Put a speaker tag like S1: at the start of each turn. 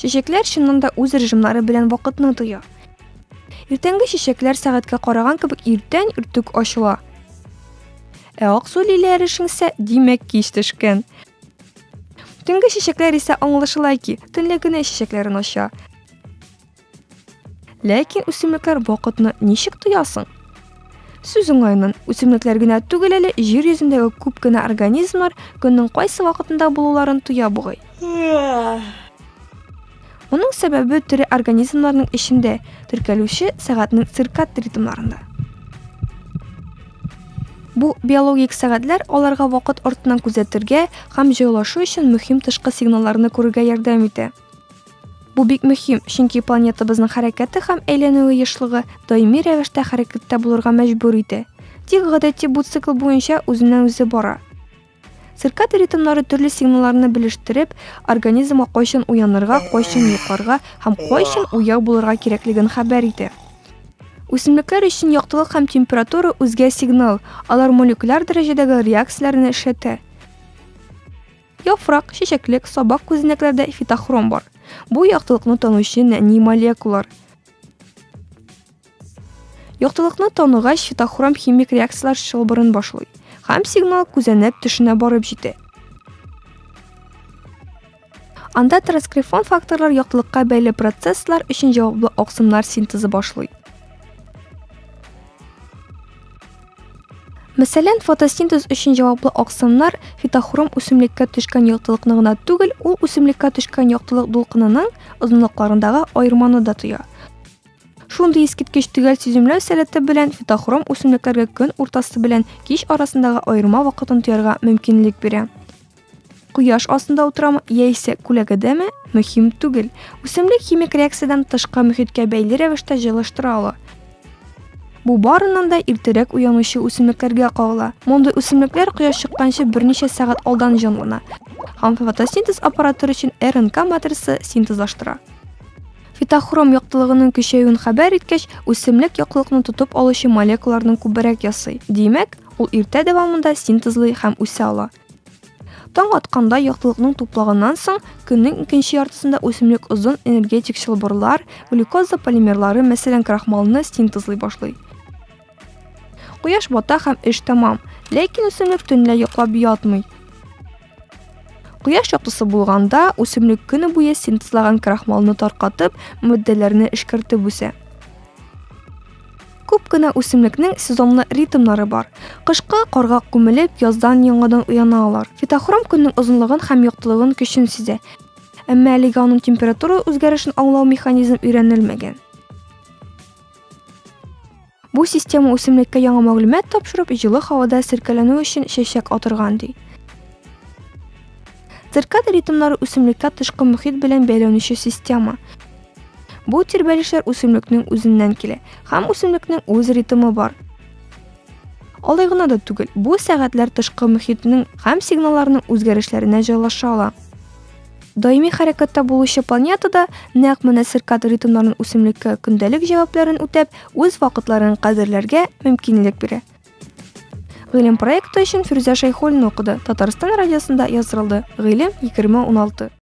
S1: Чәчәкләр чыннан да үз режимнары белән вакытны тоя. Иртәнге чәчәкләр сәгатькә караган кебек иртән иртүк ачыла. Ә аксу лилияләре шиңсә, димәк, кич төшкән. Төнге чәчәкләр исә аңлашыла ки, төнлә генә чәчәкләрен ача. Ләкин үсемлекләр вакытны ничек тоясың? Сүз уңаеннан, үсемлекләр генә түгел әле, җир йөзендәге күп кенә организмнар көннең кайсы вакытында булуларын тоя бугай. Моның сәбәбе тере организмнарның эчендә теркәлүче сәгатьнең циркад ритмнарында. Бу биологик сәгатьләр аларга вакыт артыннан күзәтергә һәм җайлашу өчен мөһим тышкы сигналларны күрергә ярдәм итә. Бу бик мөһим, чөнки планетабызның хәрәкәте һәм әйләнүе ешлыгы даими рәвештә хәрәкәттә булырга мәҗбүр итә. Тик гадәти бу цикл буенча үзеннән-үзе бара. Циркадий ритмнары төрле сигналларны белештереп, организмга кайчан уянырга, кайчан йокларга һәм кайчан уяу булырга кирәклеген хәбәр итә. Үсемлекләр өчен яктылык һәм температура үзгә сигнал, алар молекуляр дәрәҗәдәге реакцияләрне эшләтә. Яфрак, чәчәклек, сабак күзәнәкләрдә фитохром бар. Бу яктылыкны танучы нәни молекулалар. Яктылыкны таныгач, фитохром химик реакцияләр чылбырын башлый һәм сигнал күзәнәк төшенә барып җитә. Анда транскрифон факторлар яктылыкка бәйле процесслар өчен җаваплы оксимнар синтезы башлый. Мәсәлән, фотосинтез өчен җаваплы аксымнар фитохром үсемлеккә төшкән яктылыкны гына түгел, ул үсемлеккә төшкән яктылык дулкынының озынлыкларындагы аерманы да тоя. Шундый искиткеч төгәл сиземләү сәләте белән фитохром үсемлекләргә көн уртасы белән кич арасындагы аерма вакытын тоярга мөмкинлек бирә. Кояш астында утырамы яисә күләгәдәме, мөһим түгел. Үсемлек химик реакциядән тышкы мөхиткә бәйле рәвештә җылыштыра ала. Бу барыннан да иртәрәк уянучы үсемлекләргә кагыла. Мондый үсемлекләр кояш чыкканчы берничә сәгать алдан җанлана һәм фотосинтез аппараты өчен РНК матрица синтезлаштыра. Фитохром яктылыгының көчәюен хәбәр иткәч, үсемлек яктылыкны тотып алучы молекулаларны күбрәк ясый. Димәк, ул иртә дәвамында синтезлый һәм үсә ала. Таң атканда яктылыкның туплыгыннан соң көннең икенче яртысында үсемлек озын энергетик чылбырлар, глюкоза полимерлары, мәсәлән, крахмалны синтезлый башлый. Кояш бата һәм эш тәмам, ләкин үсемлек төнлә йоклап ятмый. Кояш яктысы булганда үсемлек көне буе синтезлаган крахмалны таркатып, матдәләрне эшкәртеп үсә. Күп кенә үсемлекнең сезонлы ритмнары бар. Кышкы карга күмелеп, яздан яңадан уяна алар. Фитохром көннең озынлыгын һәм яктылыгын көчен сизә. Әмма әлегә аның температура үзгәрешен аңлау механизм өйрәнелмәгән. Бу система үсемлеккә яңа мәгълүмат тапшырып, җылы һавада серкәләнү өчен чәчәк атырган, ди. Циркад ритмнары үсемлеккә тышкы мөхит белән бәйләнүче система. Бу тирбәлешләр үсемлекнең үзеннән килә, һәм үсемлекнең үз ритмы бар. Алай гына да түгел, бу сәгатьләр тышкы мөхитнең һәм сигналларның үзгәрешләренә җайлаша ала. Даими хәрәкәттә булучы планетада нәкъ менә циркад ритмнарын үсемлеккә көндәлек җавапларын үтәп, үз вакытларын кадерләргә мөмкинлек бирә. Гыйлем проекты өчен Фирүзә Шәйхуллина укыды. Татарстан радиосында яздырылды. Гыйлем 2016.